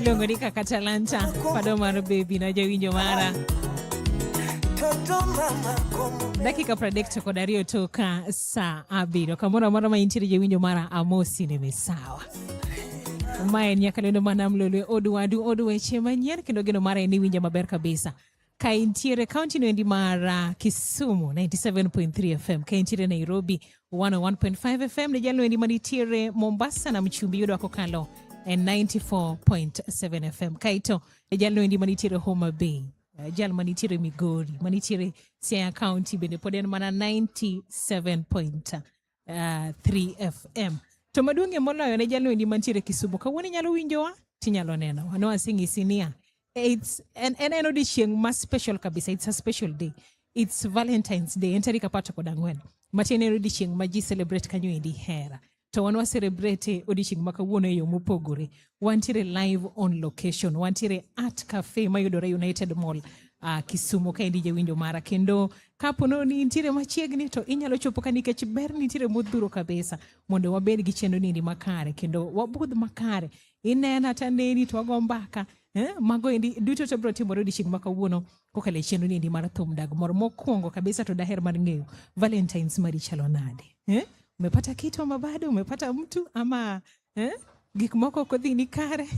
iluongo ni kaka talanta pado mar bebi na jawinjo mara dakika pradek to kod ariyo toka saa abiriyo kamoro amora ma intiere jawinjo mara amosi nene sawa ma en nyakalendo manam lolwe od wadu od weche manyien kendo geno mara en iwinja maber kabisa Kaintiere kaunti noendi mar uh, Kisumu 97.3 FM, kaintiere Nairobi 101.5 FM ne jalno endi manitiere Mombasa na mchumbi yudo akokalo e 94.7 FM kaito e jalno endi manitiere Homa Bay uh, jal manitiere Migori manitiere Siaya County bende pod en mana 97.3 uh, ah, 3FM. To maduong'ie moloyo ne jalwendi mantiere Kisumu kawuono inyalo winjowa tinyalo neno. Ano asing'isi niya. It's en en en odiechieng' ma special kabisa. It's a special day. It's Valentine's Day. En tarik apar to kod ang'wen. Matiende en odiechieng' ma ji celebrate kanyo endi hera. to wan wa celebrate odiochieng' ma kawuono e yo mopogore Wantiere live on location, wantiere at cafe mayudore United Mall uh, Kisumu ka endi jawinjo mara kendo kapono ni nitiere machiegni to inyalo chopo ka nikech ber nitiere modhuro kabisa mondo wabed gi chenro nini makare kendo wabudh makare inena ta neni to wago mbaka eh, mago endi duto to biro timore odiechieng' ma kawuono kokalo e chenro nini mar thum dag moro mokwongo kabisa to daher mar ng'eyo valentines mari chalo nade eh? umepata kitu ama bado umepata mtu ama eh? gik moko ok odhi ni kare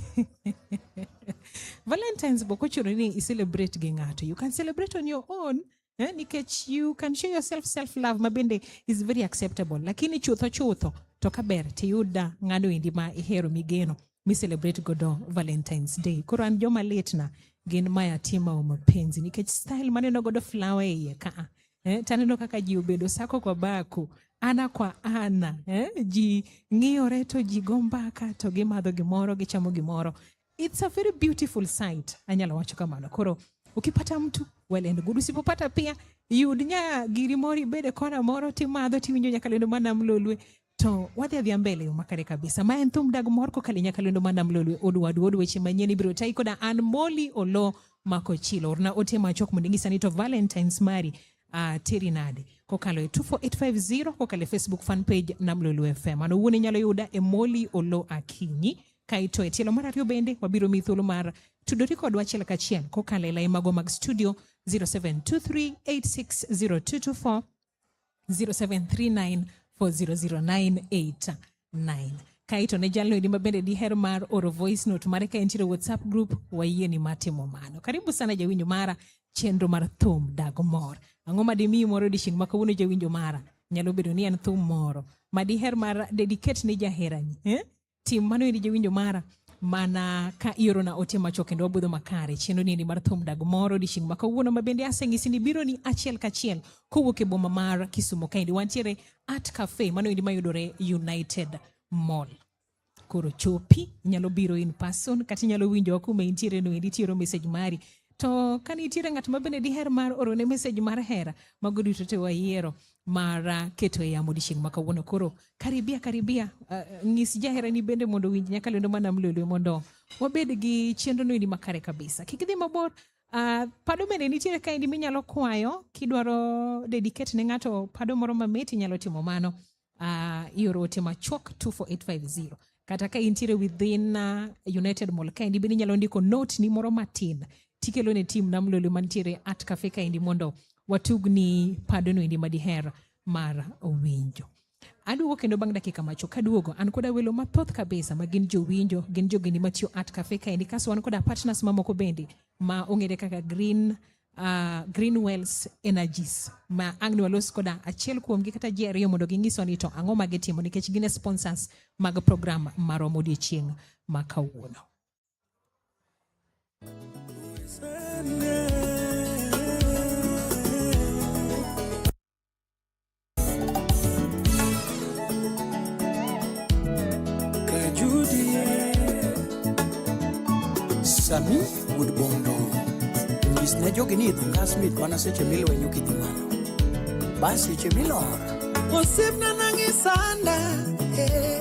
valentines bok ochuno ni i celebrate gi ng'ato you can celebrate on your own eh? nikech you can show yourself self love ma bende is very acceptable lakini chutho chutho to ka ber tiyuda ng'ano endi ma ihero migeno mi celebrate godo valentines day koro an joma litna gin mayatima wa mapenzi nikech style maneno godo flower e iye kaa eh, taneno kaka ji obedo sako kwa bako ana kwa ana eh, ji ng'iyore to ji go mbaka to gimadho gimoro gichamo gimoro it's a very beautiful sight anyalo wacho kamano koro ukipata mtu well and good usipopata pia yud nya giri moro ibede kona moro timadho tiwinjo nyaka lendo mana mlolwe To wadhi adhiya mbele yo makare kabisa. Ma en thum dag mor kokalo nyaka lendo mana mlolwe odwadu od weche manyien ibiro tayi koda an Molly Olo mako chilo. Orna ote machok mondo inyisa ni to Valentine's mari uh, teri nade kokalo e 24850 kokalo e Facebook fan page na Mlolwe FM. An owuon inyalo yuda e Molly Olo Akinyi kaito e tielo mar ariyo bende wabiro mi thuolo mar tudori kodwa achiel kachiel kokalo e lai mago mag studio 0723860224 0739400989 kae to ne jalno edi mabende diher mar oro voice note mare ka entiere whatsapp group wayie ni matimo mano karibu sana jawinjo mara chenro mar thum dago mor ang'o ma dimiyi moro odiechieng' ma kawuono jawinjo mara nyalo bedo ni en thum moro ma diher mar dedicate ne jaherani eh? tim mano endi jawinjo mara mana ka iorona ote machuok kendo wabudho makare chenro niendi mar thum dag moro odiechieng' ma kawuono ma bende aseng'isi ni biro ni achiel kachiel kowuok e boma mar kisumo kaendi wantiere art cafe mano endi mayudore united mall koro chopi inyalo biro in person kata inyalo winjowa kuma intiere no endi tiero message mari to ka nitiere ng'at ma bende diher mar orone message mar hera mago duto te wayiero mara keto e yamo odiechieng' ma kawuono koro karibia karibia uh, ng'is jaherani bende mondo winj nyaka lendo ma nam lolwe mondo wabed gi chenro noendi makare kabisa kik idhi mabor uh, pado bende nitiere kaendi minyalo kwayo kidwaro dedicate ne ng'ato pado moro mamit inyalo timo mano uh, ioro ote machuok 24850 kata ka intiere within uh, united mall kaendi bende inyalo ndiko note ni moro matin tikelo ne tim nam lolo mantiere at cafe kaendi mondo watugni padono endi madiher mar winjo aduogo kendo bang' dakika macho kaduogo an koda welo mathoth kabisa ma gin jowinjo gin jogeni matiyo at cafe kaendi kaso wan koda partners mamoko bende ma ong'ere kaka green uh, Green Wells Energies ma ang' ni walos koda achiel kuomgi kata ji ariyo mondo gingiswa ni to ang'o ma gitimo nikech gin e sponsors mag program marom odiechieng' ma kawuono. Sunday. Sami wuod Bondo nyis ne jogi ni idho ngas mit mana seche milwenyo kidhi malo bas seche milor osiepna nang'i sanda eh.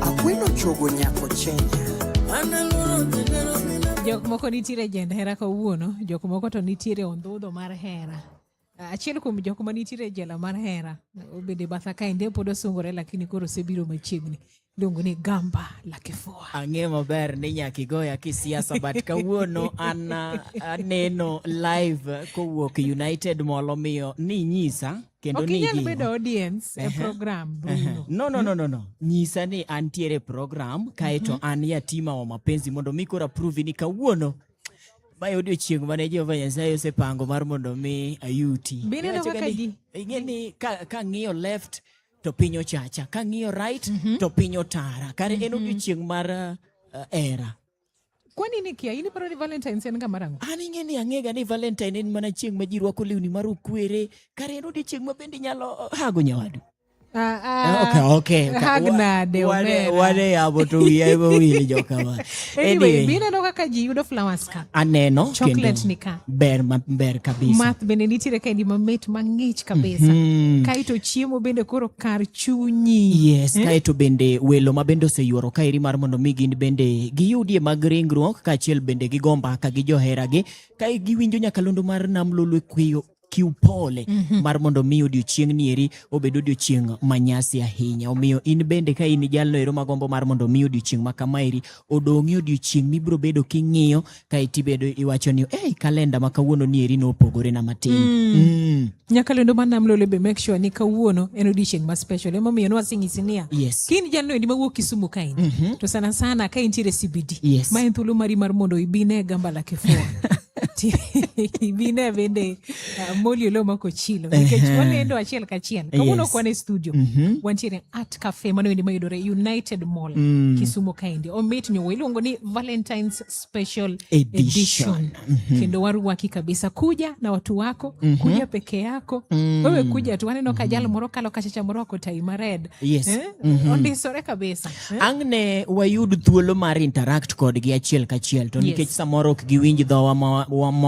Akweno chogo nyako chenya. Jok moko nitiere jend hera kawuono, jok moko to nitiere ondhudho mar hera. Achiel kuom jok ma nitiere jela mar hera obede batha kaende pod osungore lakini koro osebiro machiegni iluongo ni gamba la kifua. Ang'e maber ni nyaka igoya kisiasa but kawuono an aneno live kowuok United Mall omiyo ninyisa kendo ni inyal bedo audience e program Bruno. No, no, no, no, no. Nyisa ni antiere program kaeto mhm. an yatima wa mapenzi mondo mi koro approve ni kawuono mae odiochieng' mane Jehova Nyasaye osepango mar mondo mi ayuti. Bineno kaka ji. Ing'e ni kang'iyo left to piny ochacha, kang'iyo right mhm. to piny otara. Kare en mhm. odiochieng' mar uh, era. Kwa nini kia ini paro ni Valentine's en ga marango? An ing'e ni ang'ega ni Valentine en mana chieng' ma ji rwako lewni mar okwere, kar en odiechieng' ma bende inyalo hago nyawadu. Ah, ah, Okay, okay. okay. hag Wa- nade, wane- omera. wane yamo to wiya ema wil jokama. Anyway, Anyway, bineno kaka ji yudo flowers ka. aneno Chocolate kendo ni ka. ber maber kabisa. Math bende nitiere kaendi mamit mang'ich kabisa. Mhm. Kae to chiemo bende koro kar chunyi. Yes, hmm? Kae to bende welo ma bende oseyuoro kaeri mar mondo mi gin bende giyudie mag ringruok kaachiel bende gi gomba ka gi joheragi kae giwinjo nyakalondo mar nam lolwe kweyo kiw pole mm -hmm. mar mondo mi odiochieng' nieri obed odiochieng' manyasi ahinya omiyo in bende ka in jalno ero magombo mar mondo mi odiochieng' ma kamaeri odong'i odiochieng' mibiro bedo king'iyo kaeto ibedo iwacho ni hey, kalenda ma kawuono ni eri nopogore na matin mm. Mm. nyakalendo mar nam lolebe make sure ni kawuono en odiechieng ma special emomiyo nwasing'isi niya yes. kini jalno endi mawuok kisumu kain mm -hmm. to sana sana ka intiere cbd yes. ma en thuolo mari mar mondo ibine gambala kifua bine bende uh, moli olo mako chilo nikech wanendo achiel kachiel kawuono yes. kwane studio mm -hmm. wantiere art cafe mano endi mayudore united mall mm. kisumo kaendi omit nyowo iluongo ni valentines special edition, edition. Mm -hmm. kendo waruwaki kabisa kuja na watu wako mm -hmm. kuja peke yako mm -hmm. wewe kuja tu waneno kajal mm -hmm. moro kalo kachacha moro ako tai mared yes. eh? mm -hmm. ondisore kabisa eh? ang' ne wayud thuolo mar interact kodgi achiel kachiel to nikech yes. samoro ok giwinj dho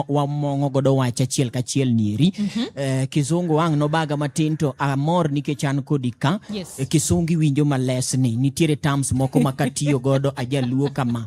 wamong'o godo wach achiel kachiel nieri mm -hmm. eh, kizungu ang' nobaga matin to amor nikech an kodi ka yes. eh, kisungi winjo malesni nitiere terms moko makatiyo godo ajaluo kama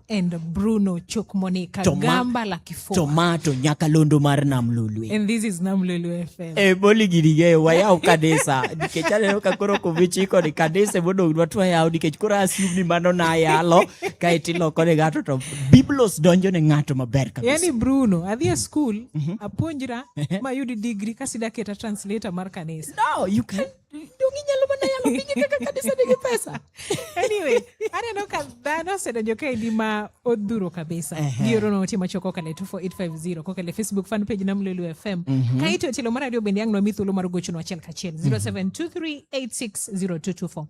and Bruno Chokmoni Kagamba la Kifua. Tomato nyaka londo mar Nam Lolwe. And this is Nam Lolwe FM. Eh, boli gini ge wayaw kanisa. Nikech aneno ka koro kovichi ko ni kanisa e mondo dwa twa yaw nikech koro assume ni mano na yalo kae tiloko ne ngato to Biblos donjo ne ngato maber kabisa. Yaani Bruno adhi e school mm -hmm. apuonjra mayudi degree kasida keta translator mar kanisa. No, you can Donge inyalo mana yalo pinye kaka kanisa nigi pesa. anyway, aneno ka dhano osedonjo kaendi ma odhuro kabisa. Ehe. Gioro no otima choko kale 24850 kokale Facebook fan page na Mlelu FM. Kaito tilo mara dio bendi yangu na mithulo mar gocho no achiel kachiel 0723860224.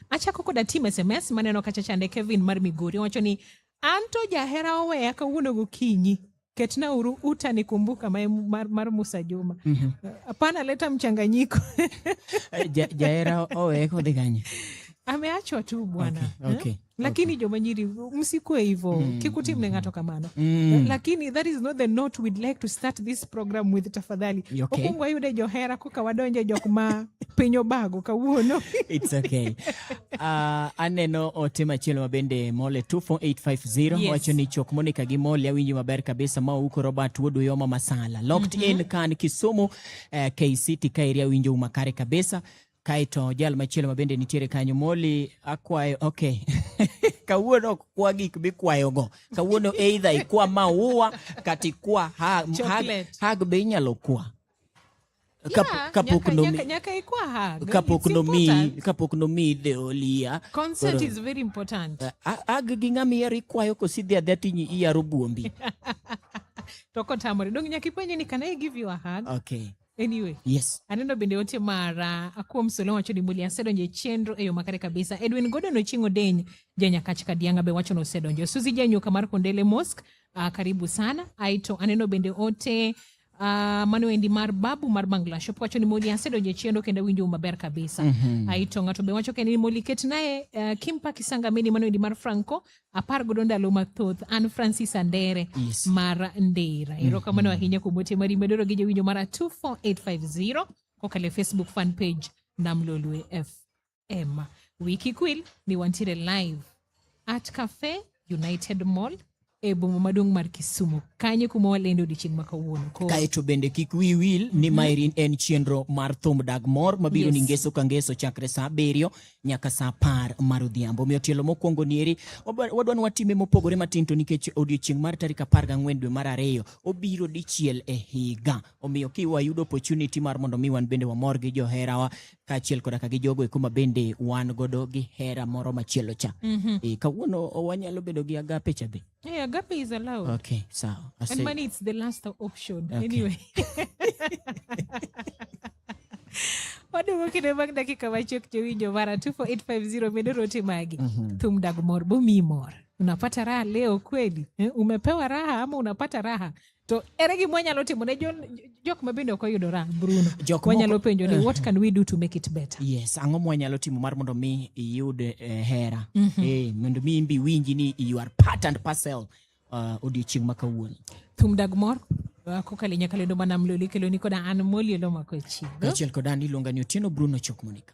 Achako koda team SMS maneno kacha chande Kevin mar Migori wacho ni An to jahera oweya kawuono gokinyi ketna uru utani kumbuka mae mar, mar Musa Juma mm -hmm. Hapana, leta mchanganyiko eh, ja, jaera owe kodhi kanye ameachwa tu bwana okay, eh? okay, eh? Lakini okay. Joma nyiri msikue hivyo mm, kikuti mne mm, ngato mm. kamano mm. Lakini that is not the note we'd like to start this program with tafadhali okay. Okuongo ayude johera koka wadonje jok ma piny obago kawuono it's okay uh, aneno ote machielo ma bende mole 24850 yes. wacho ni chok monika gi mole awinjo maber kabisa ma uko robert wuod uyoma masala locked mm -hmm. in kan kisumu uh, eh, kct ka area awinjo umakare kabisa Kaeto jal machielo ma bende nitiere kanyo Moli akwayo okay. kawuono ok kwa gik mikwayogo kawuono eidha ikwa maua kata ikwa hag, hag, hag be inyalo kwa kapok nomiyi kapok nomiyi deolia consent is very important eh, ag gi ng'ama iyaro ikwayo kosidhi adhia tinyi iyaro buombi to kotamore dong nyaka ipenje ni can i give you a hug okay Anyway, yes. Aneno bende ote mara akuom solo wacho ni muli asedonjo e chenro e yo makare kabisa. Edwin Gordon Ochieng' Odeny janyakach Kadianga be wacho ni osedonjo. Suzi Janyuka mar Kondele Mosque, uh, ah, karibu sana. Aito aneno bende ote uh, ah, mano endi mar babu mar Bangla Shop wacho ni moli asedonjo e chenro kendo winjo maber kabisa. Mm -hmm. Aito ng'ato be wacho kendo ni moli ket naye uh, Kimpa Kisanga mini mano endi mar Franco apar godo ndalo mathoth an francis andere yes. mar ndera mhm. erokamano mm -hmm. ahinya kuom ote mari medoro gi jowinjo mara 24850 kokalo e facebook fan page namlolwe fm wiki kwil ni wantiere live at cafe united mall e boma maduong' mar Kisumu kanyo kuma walendo odiechieng' ma kawuono. Kaeto bende kik wi wil ni mhm. maeri en chenro mar thum dag mor mabiro ni ngeso ka ngeso chakre sa abiriyo nyaka saa apar mar odhiambo. Omiyo tielo mokwongo ni eri wadwa ni watime mopogore matin to nikech odiochieng' mar tarik apar gang'wen dwe mar ariyo obiro dichiel e higa. Omiyo kiwayudo opportunity mar mondo mi wan bende wamor gi joherawa kaachiel koda ka gi jogo eko ma bende wan godo gi hera moro machielo cha. Mm -hmm. E, kawuono wanyalo bedo gi agape cha be. Yeah, agape is allowed. Okay, sawa. I And money it's the last option. Okay. Anyway. waduogo kinde bang' dakika machuok jowinjo mara 24850 medo rote magi mm -hmm. thum dag mor bomi mor unapata raha leo kweli eh? umepewa raha ama unapata raha To ere gima wanyalo timo ne jok ma bende ok oyudora Bruno? Jok wanyalo penjo ni eh. what can we do to make it better? Yes, ang'o mwanyalo timo mar mondo mi iyud eh, hera? Mm -hmm. Eh, mondo mi imbi winji ni you are part and parcel uh, odiochieng' ma kawuono. Thum dag mor kokalo nyaka lendo mana mloli keloni koda an moli elo mako e chigo. Kachiel koda an iluonga ni Otieno Bruno Chokmonika.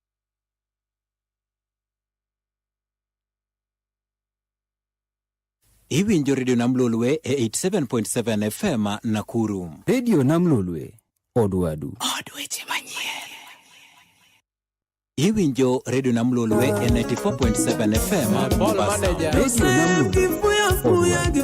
Iwinjo redio nam lolwe e 87.7 FM Nakuru. Redio nam lolwe odwadu. Od weche manyien. Iwinjo redio nam lolwe e 94.7 FM Mombasa. Redio nam lolwe odwadu.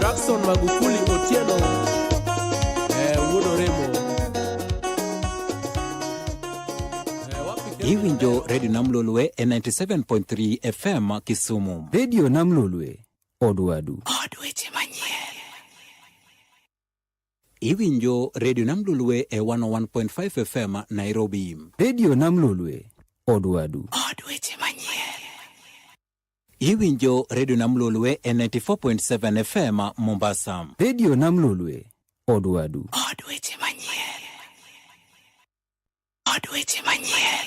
Jackson Magufuli Otieno eh, wuod Oremo eh, iwinjo redio namlolwe e 97.3 fm kisumu redio namlolwe odwadu od weche manyien Iwinjo redio Nam Lolwe e 101.5 FM Nairobi. Redio Nam Lolwe, Odwadu. Od weche manyien. Iwinjo redio Nam Lolwe e 94.7 FM Mombasa. Redio Nam Lolwe, Odwadu. Od weche manyien. Od weche manyien.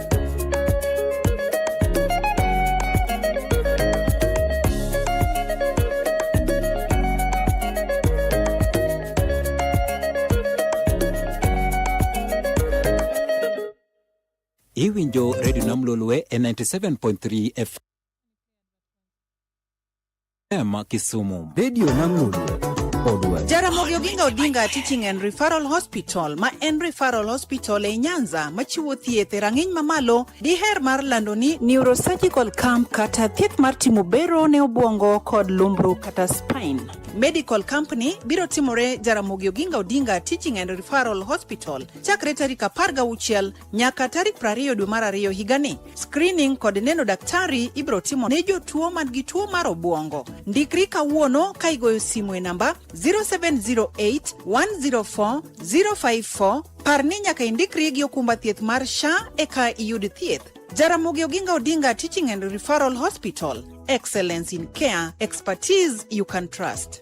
Iwinjo redio nam lolwe e 97.3 FM. Ema Kisumu. Radio Nangulu. Jaramogi Oginga Odinga Teaching and Referral Hospital ma en Referral Hospital e Nyanza machiwo thieth e rang'iny mamalo diher mar lando ni neurosurgical camp kata thieth mar timo bero ne obwongo kod lumbru kata spine. Medical Company biro timore Jaramogi Oginga Odinga Teaching and Referral Hospital chakre tarik 16 Nyaka tarik 20 dwe mar ariyo higani, screening kod neno daktari ibiro timo ne jotuo man gi tuo mar obwongo. Ndikri kawuono ka igoyo simu e namba 0708 104 054. Par ni nyaka indikri gi okumba thieth mar SHA eka iyud thieth. Jaramogi Oginga Odinga Teaching and Referral Hospital, excellence in care, expertise you can trust.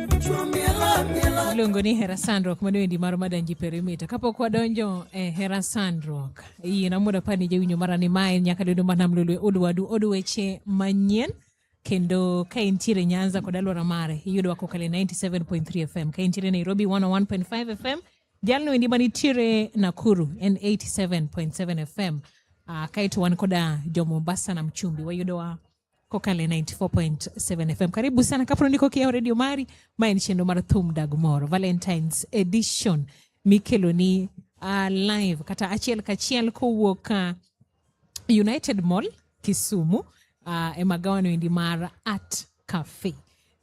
iluongo ni hera sandruok mano endi mar madanji perimita kapok wadonjo e eh, hera sandruok yie namondo apar ni jawinjo mara ni mae nyaka dodo mar nam lolwe odwadu od weche manyien kendo ka intiere nyanza kod aluora mare iyudowa kokale 97.3 fm ka intiere nairobi 101.5 fm jalno endi manitiere nakuru en 87.7 fm uh, ah, kaeto wan koda jo mombasa na mchumbi wayudowa kokale 94.7 fm karibu sana kapro ndiko kiyawo radio mari ma en chenro mar thum dag moro valentines edition mikeloni uh, live kata achiel kachiel kowuok uh, united mall kisumu uh, e magawano endi mar art cafe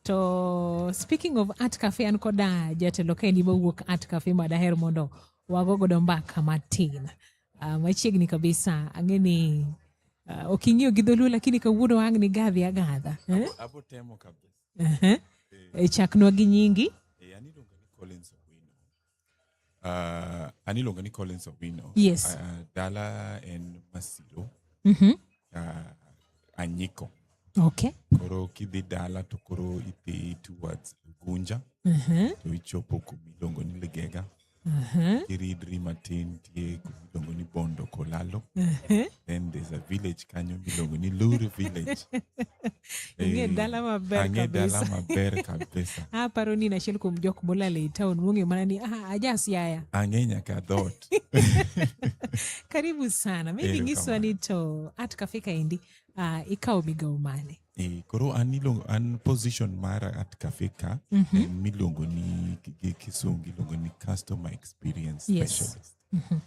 to speaking of art cafe an koda jatelo kendi mowuok art cafe madaher mondo wago godo mbaka matin Uh, machiegni kabisa ang'eni uh, ah, ok ing'iyo gi dholuo lakini kawuono ang' ni gadhi agadha eh? abo temo kabisa uh-huh. eh. eh, chaknwa gi nyingi eh, aniluonga ni Collins Owino uh, aniluonga ni Collins Owino yes. uh, dala en Masiro mm -hmm. uh, Anyiko okay. koro kidhi dala to koro idhi towards Gunja uh -huh. to ichopo kumiluongo ni Ligega Uh-huh. Kiridri matin tie iluongo ni Bondo Kolalo. Uh-huh. Then there's a village kanyo miluongo ni Luri village. Ing'e dala maber Ang'e kabisa. dala maber kabisa. Ah, paro ni nachiel kuom jok molal ei town mong'eyo mana ni ah, aja Siaya. Ang'e nyaka dhoot. Karibu sana. Maybe Erokamano. nyiswa ni to at cafe kaendi ah, ikawo migawo mane? Eh, koro an iluongo an position mara at cafe ka mm -hmm. en miluongo ni gi kisungu iluongo ni customer experience yes. specialist mm -hmm.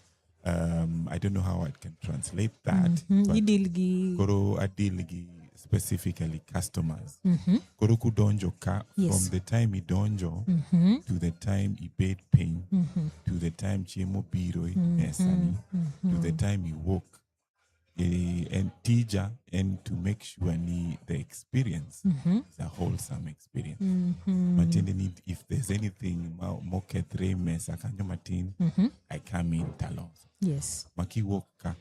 um, i don't know how i can translate that mm -hmm. idil gi koro adil gi specifically customers mm -hmm. koro kudonjo ka yes. from the time idonjo mm -hmm. to the time ibed piny mm -hmm. to the time chiemo biro mm -hmm. esani mm -hmm. to the time iwuok eh, and tija and to make sure ni the experience Mhm. is a wholesome experience Mhm. matiende ni if there's anything ma- mokethre mesa kanyo matin Mhm. i come in taloso Yes. makiwuok ka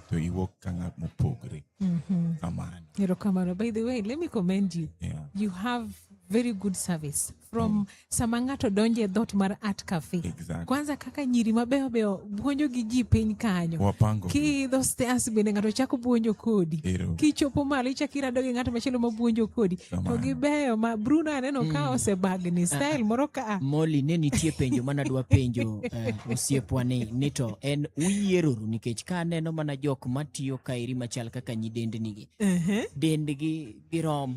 to iwuok ka ng'at mopogre Mhm. kamano Erokamano. By the way, let me commend you. yeah. You have very good service. from mm. sama ng'ato donjo e dhot mar art cafe exactly. kwanza kaka nyiri mabeyo beyo buonjo gi ji piny kanyo wapango kiidho stairs bende ng'ato chako buonjo kodi kichopo malo ichako irado gi ng'ato machielo ma buonjo kodi to gibeyo ma Bruno aneno mm. ka osebagni style ah, moro ka Molly ne nitie penjo mana dwa penjo uh, osiepwa ni ni to en uyieroru nikech ka aneno mana jok matiyo kaeri machal kaka nyidendnigi uh -huh. dendgi girom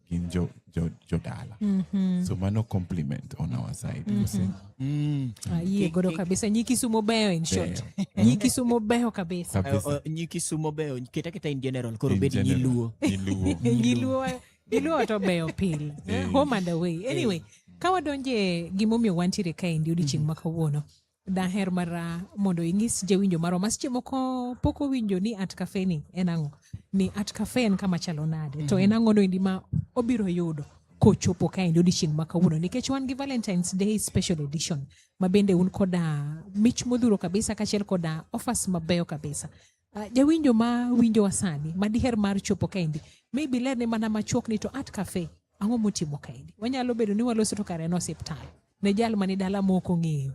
gin jo, jo, jo dala mm -hmm. so mano compliment on our side mm -hmm. mm. ah, yie godo kabisa nyi kisumo beyo in short nyi kisumo beyo kabisa uh, uh, nyi kisumo beyo keta keta in general koro bedi nyi luo nyi luo nyi luo nyi luo to beyo pil home and away anyway hey. ka wadonje gimomiyo wantiere kaendi odiochieng' mm -hmm. ma kawuono daher mara mondo inyis jawinjo marwa ma seche moko pok owinjo ni art cafe ni en ang'o ni art cafe en kama chalo nade mm-hmm. to en ang'o noendi ma obiro yudo kochopo kaendi odiochieng' ma kawuono nikech wan gi valentines day special edition ma bende un koda mich modhuro kabisa kaachiel koda offers mabeyo kabisa uh, jawinjo ma winjowa sani ma diher mar chopo kaendi maybe lerne mana machuok ni to art cafe ang'o motimo kaendi wanyalo bedo ni waloso to kare en osiptal ne jal mani dala ma ok ong'eyo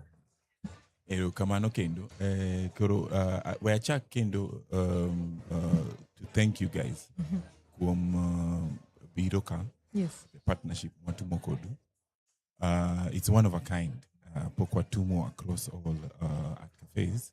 erokamano kendo eh, koro uh, we achak kendo um, uh, to thank you guys kuom uh, biro ka yes the partnership mwatumo kodu uh, it's one of a kind uh, pok watumo across all uh, at cafes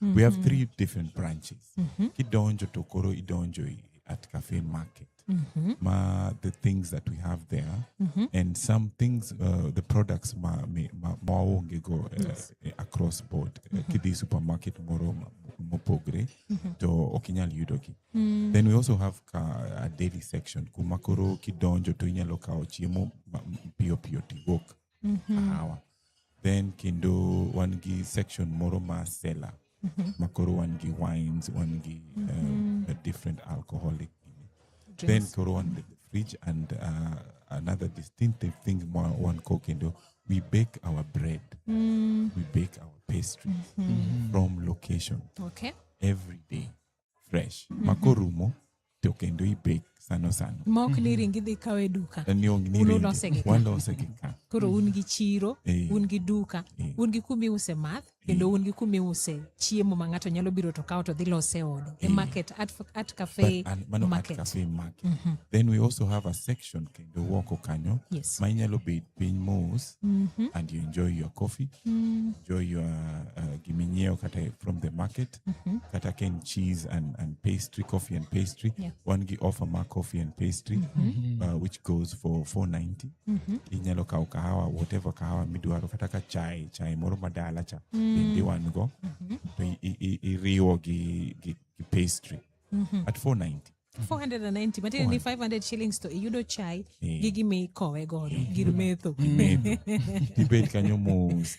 mm -hmm. we have mm-hmm. three different branches mm -hmm. kidonjo to koro idonjo at cafe market mm -hmm. ma the things that we have there mm -hmm. and some things uh, the products ma, ma, ma uh, yes. uh, across board mm -hmm. uh, kidhi supermarket moro mopogre mm -hmm. to ok inyal yudogi mm -hmm. then we also have ka, a daily section kuma koro kidonjo to inyalo kawo chiemo piyo piyo tiwuok mm -hmm. kahawa then kendo wan gi section moro ma sela mm -hmm. makoro wan gi wines wan gi mm -hmm. um, mhm. different alcoholic Drinks. then koro wan the fridge and uh, another distinctive thing one ko kendo we bake our bread mm. we bake our pastries mm -hmm. from location okay every day fresh mm -hmm. makorumo to kendo ibek sano sano mok ni mhm. ringi dhi kawe duka ni ong ni walose gi ka koro un gi chiro eh. un gi duka eh. un gi kumi use math eh. kendo un gi kumi use chiemo ma ng'ato nyalo biro to kawo to dhi lose odo e market at, at cafe But, and, mano, market. At cafe market mm -hmm. then we also have a section kendo woko kanyo yes. ma inyalo bed piny mos mm -hmm. and you enjoy your coffee mm. enjoy your uh, giminyiewo kata from the market mm-hmm. kata ka en cheese and, and pastry coffee and pastry yeah. wan gi offer ma coffee and pastry mm-hmm. uh, which goes for 490 mm-hmm. inyalo kawo kahawa whatever kahawa midwaro kata ka chai chai moro madala cha mm-hmm. bende wan go mm-hmm. to iriwo gi, gi, gi pastry mm-hmm. at 490 490 matiende ni 500 shillings to iyudo chai yeah. gigi mikowe godo gir metho tibed kanyo mos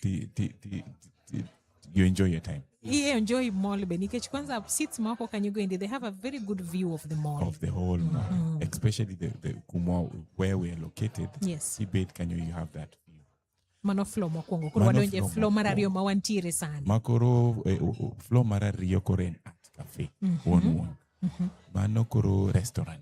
you enjoy your time you enjoy mall be nikech kwanza seats mako can you go in they have a very good view of the mall of the whole mall mm. especially the, the kumwa where we are located yes ibet can you, you have that view mano flow mokwongo koro wadonje flow mar ariyo ma wantiere sani makoro eh, flow mar ariyo koro en art cafe mm -hmm. one one mm -hmm. mano koro restaurant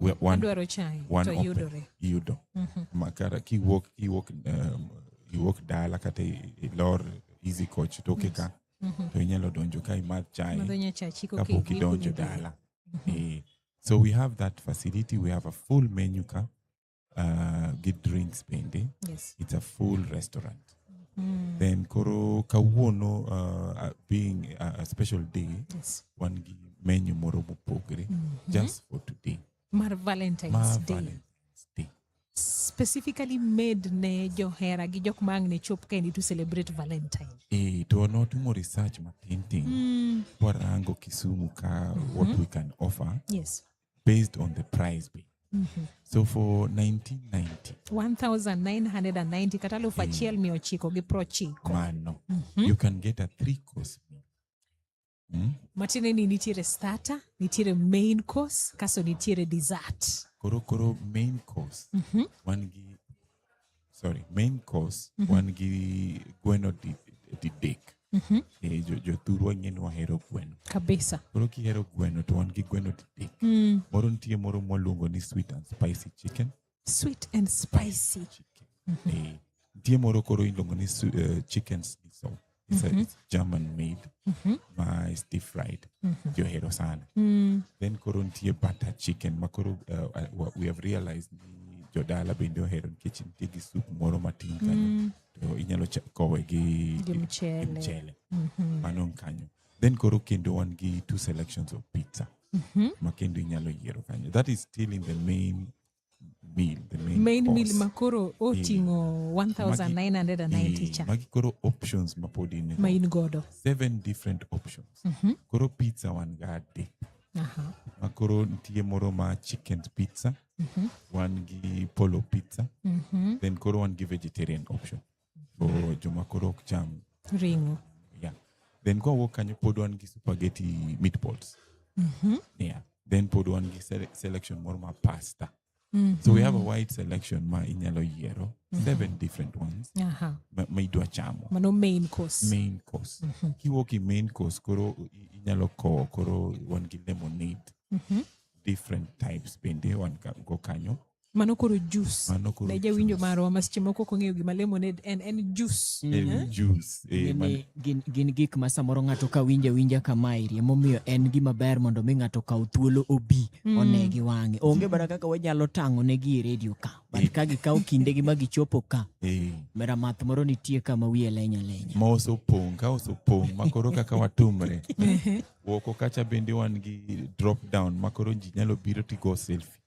We- one- Adwaro chai one to open. yudore. yudo Mhm. makara kiwuok iwuok um, iwuok dala kata i- ilor easy coach toke ka Mhm. to inyalo donjo ka imadh chai Madho nyachachi koka kapok idhi idonjo kuonde. dala Eh, so we have that facility we have a full menu ka uh, gi drinks bende Yes. it's a full restaurant Mm. then koro kawuono uh, uh, being a, a special day Yes. wan gi menu moro mopogre just for today Mar Valentine's ma Day. Valentine's Day. Specifically made ne johera gi jok ma ang' ne chop kendi to celebrate Valentine. Eh, to notimo research matintin Mm. warango kisumu ka what we can offer Yes. based on the price be. Mm -hmm. So for 1990 1990 kata alufu eh. achiel mia ochiko gi prochiko mano mm -hmm. you can get a three course meal mm? matiende ni nitiere starter nitiere main course kaso nitiere dessert koro koro main course mm -hmm. wan gi sorry main course mm -hmm. wan gi gweno didek mm -hmm. e, jo, jothurwa ng'e ni wahero gweno kabisa koro kihero gweno to wan gi gweno didek mm. moro nitie moro mwaluongo ni sweet and spicy chicken sweet and spicy, spicy chicken. Mm -hmm. e, nitie moro koro iluongo ni uh, chicken sniso it's, a, it's german made ma is deep fried johero sana then koro nitie butter chicken ma koro uh, uh, wa- we have realized ni jodala bende ohero nikech nitie gi soup moro matin kanyo to inyalo cha- kowe gi Gi gi mchele. mchele. mano ni kanyo then koro kendo wan gi two selections of pizza ma kendo inyalo yiero kanyo that is still in the main meal, the main, main course. meal makoro oting'o 1990 cha magi koro options mapod in ma in godo seven different options mm -hmm. koro pizza wan ga adek uh-huh. makoro nitie moro ma chicken pizza mm -hmm. wan gi polo pizza mm -hmm. then koro wan gi vegetarian option for joma koro ok cham ring'o yeah. then kwa wuok kanyo pod wan gi supageti meatballs mm-hmm. yeah. then pod wan gi sele- selection moro ma pasta mm-hmm. so we have a wide selection ma inyalo yiero mm-hmm. seven different ones Aha. ma, ma idwa chamo mano main course main course mm-hmm. kiwuok i main course koro i- inyalo kowo koro wan gi lemonade mm-hmm. different types bende wan ka- go kanyo mano koro jus ne jawinjo marwa ma seche moko kong'eyo gima lemonade en en jus mm. eh? eh, gin gik ma samoro ng'ato ka winja winja kamaeri emomiyo en gima ber mondo mi ng'ato kaw thuolo obi mm. one gi wang'e onge mana kaka wanyalo tang'o ne gi e redio ka but eh. ka gikawo kindegi ma gichopo ka mera math moro nitie kama wiye lenya lenya ma osopong' ka osopong' ma koro kaka watumre woko kacha bende wan gi drop down ma koro ji nyalo biro tigo selfie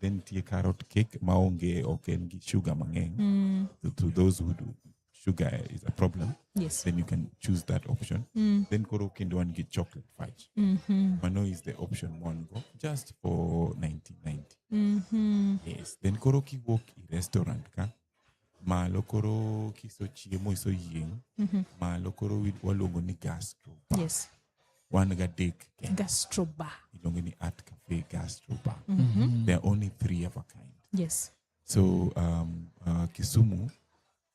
then nitie carrot cake ma onge ok en gi sugar mang'eny mm. to, to those who do sugar is a problem yes. then you can choose that option mm. then koro kendo wan gi chocolate fudge mm -hmm. mano is the option one go just for 1990 mm -hmm. yes then koro kiwuok i restaurant ka malo koro kisochiemo isoyieng mm-hmm. malo koro waluongo ni gastro yes. wan gadek gastroba iluongo ni art cafe gastroba mm-hmm. there are only three of a kind yes. so um, uh, kisumu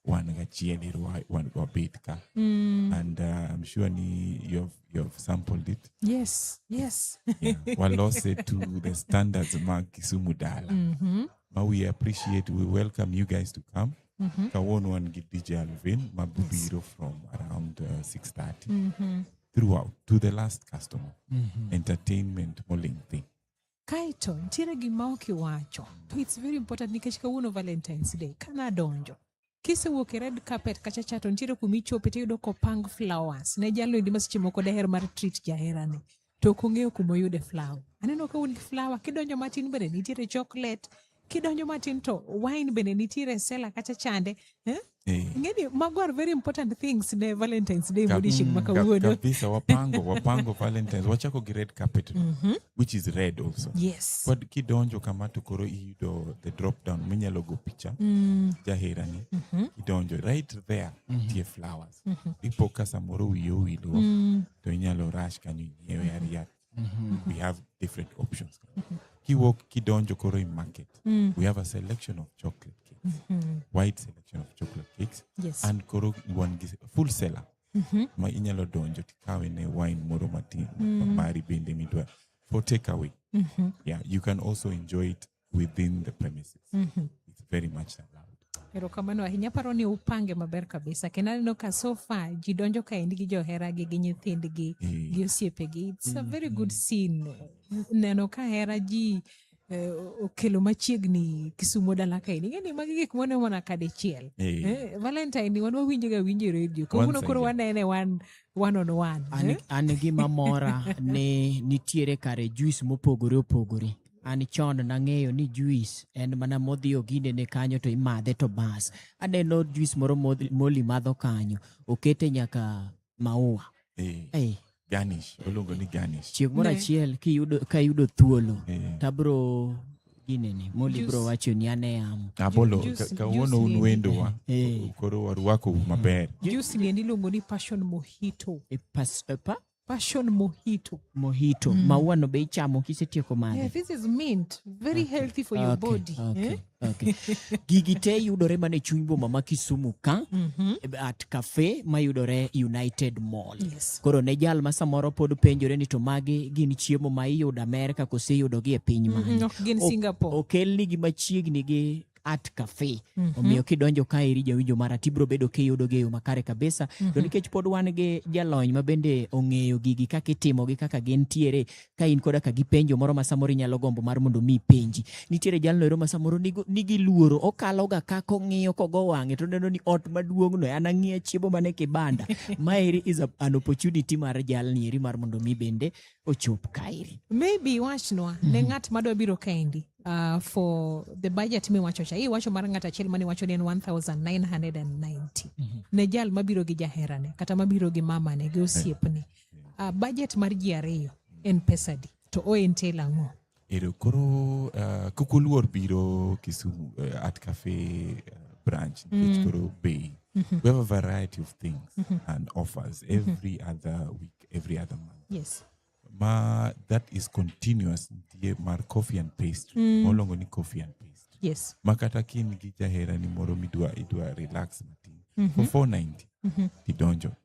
wan gachiel ero wabet ka mm. and uh, i'm sure ni you've, you've sampled it yes yes yeah. walose to the standards mag kisumu dala mm-hmm. ma we appreciate we welcome you guys to come mm -hmm. kawuono wan gi dj alvin ma biro yes. from around uh, 630 mm -hmm. throughout to the last customer mm -hmm. entertainment moling thing kaito nitiere gima ok iwacho to it's very important nikech kawuono valentines day kanadonjo kisewuok e red carpet kacha cha to nitiere kuma ichope tiyudo kopang flowers ne jalo endi ma seche moko daher mar treat jaherane to ok ong'eyo kuma oyude flower aneno ka un gi flower kidonjo matin bende nitiere chocolate kidonjo matin to wine bende nitiere sela kacha chande eh? Eh. ngeni mago are very important things ne valentines day Ka- modishing ma Ka- kawuono kabisa wapango wapango valentines wachako gi red carpet which is red also yes kod kidonjo kama to koro iyudo the drop down minyalo go picha mm. jaherani mm -hmm. kidonjo right there mm -hmm. tie flowers mm -hmm. ipo ka samoro wiye owilo mm. to inyalo rush kanyo inyiewe mm -hmm. ariat mm -hmm. we have different options mm -hmm. kiwok kidonjo koro i market mm. we have a selection of chocolate cakes mm -hmm. wide selection of chocolate cakes yes. and koro wan gi full seller mm-hmm. ma inyalo donjo tikawe ne wine moro matin mm. mari bende midwa for take away mm-hmm. yeah you can also enjoy it within the premises mm-hmm. it's very much allowed erokamano ahinya paro ni upange maber kabisa kendo aneno ka sofa ji donjo kaendi gi joheragi gi nyithindgi eh. gi osiepegi its a very good mm-hmm. scene neno ka hera ji Eh, okelo machiegni kisumo dala kaini ing'e ni magi gik mwane mana ka dichiel eh. eh, valentine ni wan wawinjo ga winjo e redio kawuono koro wanene wan one on one an, eh? an gima mora ni nitiere kare juis mopogore opogore an chon nang'eyo ni juis en mana modhi oginde ne kanyo to imadhe to bas aneno juis moro moli madho kanyo okete nyaka maua eh. Hey. Garnish, oluongo ni garnish. Chieng' moro achiel kiyudo ka yudo thuolo eh. tabro ginene moli bro wacho ni ane yamo abolo kawuono un wendowa eh. eh. koro warwako mm. maber juice ni iluongo ni passion mojito e pas e pa passion mojito mojito mm. maua no be ichamo kisetieko madhe yeah, this is mint very ah, healthy for your okay, body okay. eh? Okay. Gigi te yudore mana e chuny boma ma Kisumu ka mm -hmm. at cafe mayudore United Mall. Yes. Koro ne jal ma samoro pod penjore ni to magi gin chiemo ma iyudo Amerka kose yudogi e piny mhm, mane? Mm -hmm. Ok gin Singapore. Okelnigi machiegni gi at cafe mm -hmm. omiyo kidonjo ka iri jawinjo mara tibro bedo kiyudo geyo makare kabisa mm -hmm. to mhm. nikech pod wan gi jalony ma bende ong'eyo gigi kaka itimogi kaka gintiere ka in koda ka gi penjo moro ma samoro inyalo gombo mar mondo mi penji nitiere jalno ero ma samoro nigo nigi luoro okalo ga ka kong'iyo kogo wang'e to neno ni ot maduong' no an ang'iya chiemo mane kibanda maeri is a, an opportunity mar jalni eri mar mondo mi bende ochop kaeri maybe wachnwa mm -hmm. ne mhm. ng'at madwa biro kaendi uh, for the budget miwacho cha iwacho mar ng'at achiel mane wacho ni en 1990 mm -hmm. ne jal mabiro gi jaherane kata mabiro gi mamane gi osiepne uh, budget mar ji ariyo en pesadi to o entail ang'o ero koro uh, kok oluor biro kisumu uh, art cafe uh, branch nikech mm. koro bay mm -hmm. we have a variety of things mm -hmm. and offers mm-hmm. every mm -hmm. other week every other month yes ma that is continuous nitie mar coffee and pastry mm. molongo ni coffee and pastry yes ma kata ka in gi jaherani moro midwa idwa relax matin mm -hmm. for 490 mm -hmm. tidonjo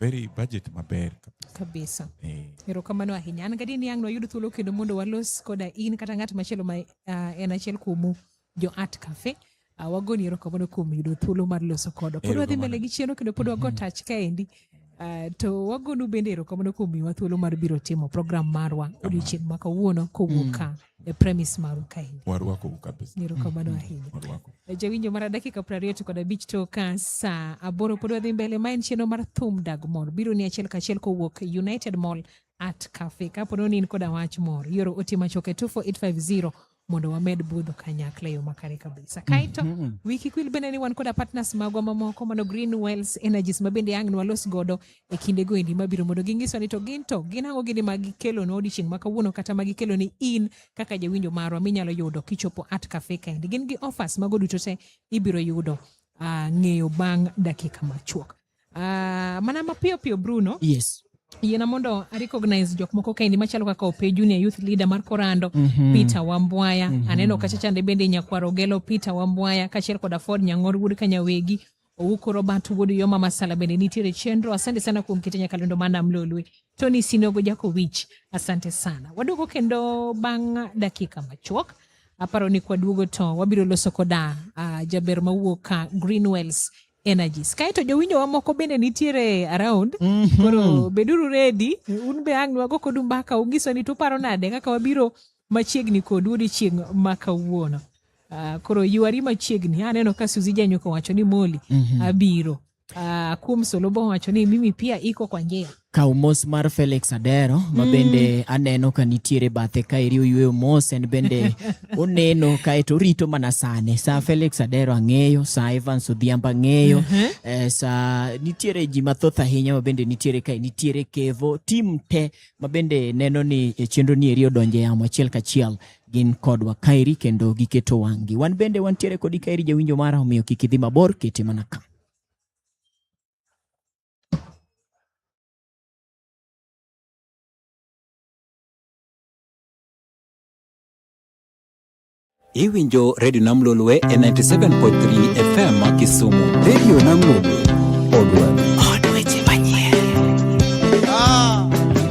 very budget maber kabisa eh. erokamano ahinya an gadi niang' nwayud thuolo kendo mondo walos koda in kata ng'at machielo ma uh, en achiel kuomu jo art cafe uh, wagoni erokamano kuom yudo thuolo mar loso kodo pod wadhi mbele gi chieno kendo pod wago mm-hmm. tach kaendi uh, to wagonu bende erokamano kuom miwa thuolo mar biro timo program marwa odiochieng' ma kawuono kowuok mm. ka e premis maru ka in warwakou kabisa ni erokamano ahinya warwakou jawinjo mar dakika piero ariyo to kod abich to ka saa aboro pod wadhi mbele ma en chenro mar thum dag mor biro ni achiel kachiel kowuok united mall at cafe kapo ni in koda wach mor yoro ote machuok e 24850 mondo wamed budho kanyakla e yo makare kabisa kaeto wiki kwil bende ni wan koda partners magwa mamoko mano green wells energies ma bende ang' nwalos godo e kindego endi mabiro mondo gingiswa ni to gin to gin ang'o gini ma gikelo ne odiechieng' ma kawuono kata ma gikelo ni in kaka jawinjo marwa minyalo yudo kichopo at cafe kaendi gin gi offers mago duto te ibiro yudo uh, ng'eyo bang' dakika machuok uh, mana mapiyo piyo Bruno yes yiena mondo arecognize jok moko kaendi machalo kaka ope junior youth leader mar korando mm -hmm. peter wambwaya mm -hmm. aneno kacha chande bende nyakwaro gelo peter wambwaya kachiel kod aford nyang'or wuod kanyawegi Owuko Robert Wuod Yoma Masala bende nitiere chenro. Asante sana kuom kete nyakalondo mana Mlolwe. Tony Sinogo Jakowich, asante sana. Waduogo kendo bang' dakika machuok. Aparo ni kwaduogo to wabiro loso koda uh, jaber mawuok ka Greenwells energies kaeto jowinjowa moko bende nitiere around mm -hmm. koro beduru redi un be ang' nwago kodu mbaka unyiso ni tuparo nade kaka wabiro machiegni kodu odiochieng' ma kawuono Uh, koro yuari machiegni aneno ka Suzi Janyuka wacho ni Moli mm -hmm. abiro uh, kuom Solobo wacho ni mimi pia iko kwa njia kaw mos mar Felix Adero ma mm. bende aneno ka nitiere bathe ka eri oyweyo mos en bende oneno kaeto orito mana sane sa Felix Adero ang'eyo sa Evans Odhiambo ang'eyo uh -huh. eh, sa nitiere ji mathoth ahinya ma bende nitiere kae nitiere Kevo tim te ma bende neno ni e chenro ni eri odonje yamo achiel kachiel gin kodwa kaeri kendo giketo wang'gi. Wan bende wantiere kodi kaeri jawinjo mara, omiyo kik idhi mabor, kete mana ka. Iwinjo Radio Nam Lolwe e 97.3 FM Kisumu. Radio Nam Lolwe, Odwa.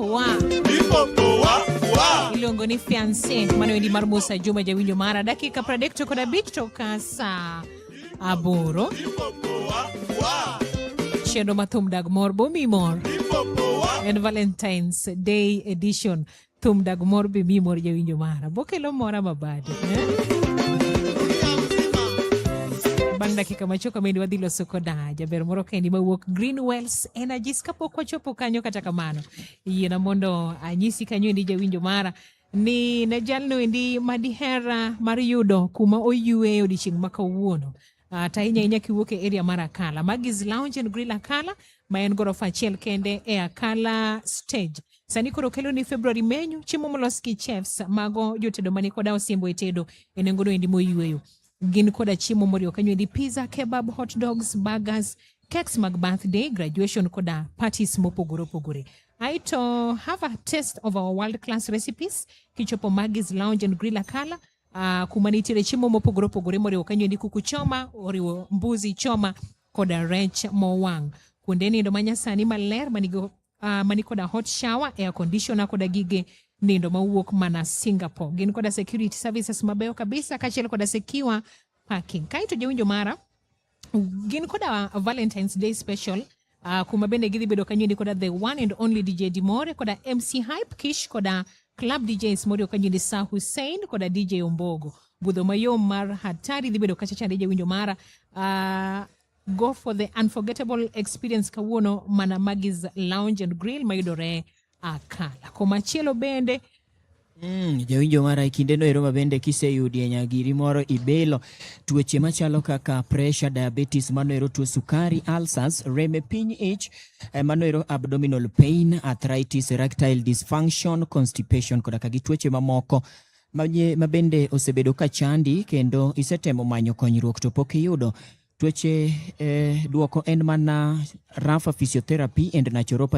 Wa. Ilongo ni fiance mano endi mar Musa Juma jawinjo mara dakika pradek to kod abich to ka saa aboro chenro ma thum dag mor bomi mor en Valentine's Day edition thum dag mor bomi mor jawinjo mara bokelo mora mabade eh? bang' dakika machuok amendi wadhi loso koda jaber moro kendi mawuok Greenwells energies kapok wachopo kanyo kata kamano yiena mondo anyisi kanyo endi jawinjo mara ni ne jalno endi madihera mar yudo kuma oyueyo odiechieng' ma kawuono uh, to ahinya ahinya kiwuok e area mar Akala. Magis Lounge and Grill Akala ma en gorofa achiel kende e Akala stage. Sani koro kelo ni February menyu chiemo molos gi chefs mago jotedo mani koda osimbo e tedo e nengono endi moyueyo. gin koda chiemo moriwo kanyo endi pizza, kebab, hot dogs, burgers, cakes mag birthday, graduation koda parties mopogore opogore. Aito have a taste of our world class recipes kichopo Maggie's Lounge and Grill Akala uh, kuma nitiere chiemo mopogore opogore moriwo kanyo endi kuku choma, oriwo mbuzi choma koda rech mowang'. Kuonde nindo manyasani maler manigi uh, mani koda hot shower, air conditioner koda gige nindo mawuok mana Singapore. Gin koda security services mabeyo kabisa kachiel koda secure parking. Kaito jawinjo mara gin koda Valentine's Day special uh, kuma bende gidhi bedo kanyindi koda the one and only DJ Dimore koda MC Hype Kish koda Club DJs moriwo kanyindi Sa Hussein koda DJ Ombogo. Budho mayom mar hatari dhi bedo kacha chande jawinjo mara. Uh, Go for the unforgettable experience kawuono mana Magis Lounge and Grill mayudore Akala. Komachielo bende Mm, jawinjo mara e kindeno ero ma bende kiseyudie nyagiri moro ibilo tuoche machalo kaka pressure, diabetes, mano ero tuo sukari, ulcers, rem e piny ich, eh, mano ero abdominal pain, arthritis, erectile dysfunction, constipation koda ka gi tuoche mamoko Maye ma bende osebedo ka chandi kendo isetemo manyo konyruok to pok iyudo. Tuoche eh, duoko en mana Rapha Physiotherapy and Naturopathy.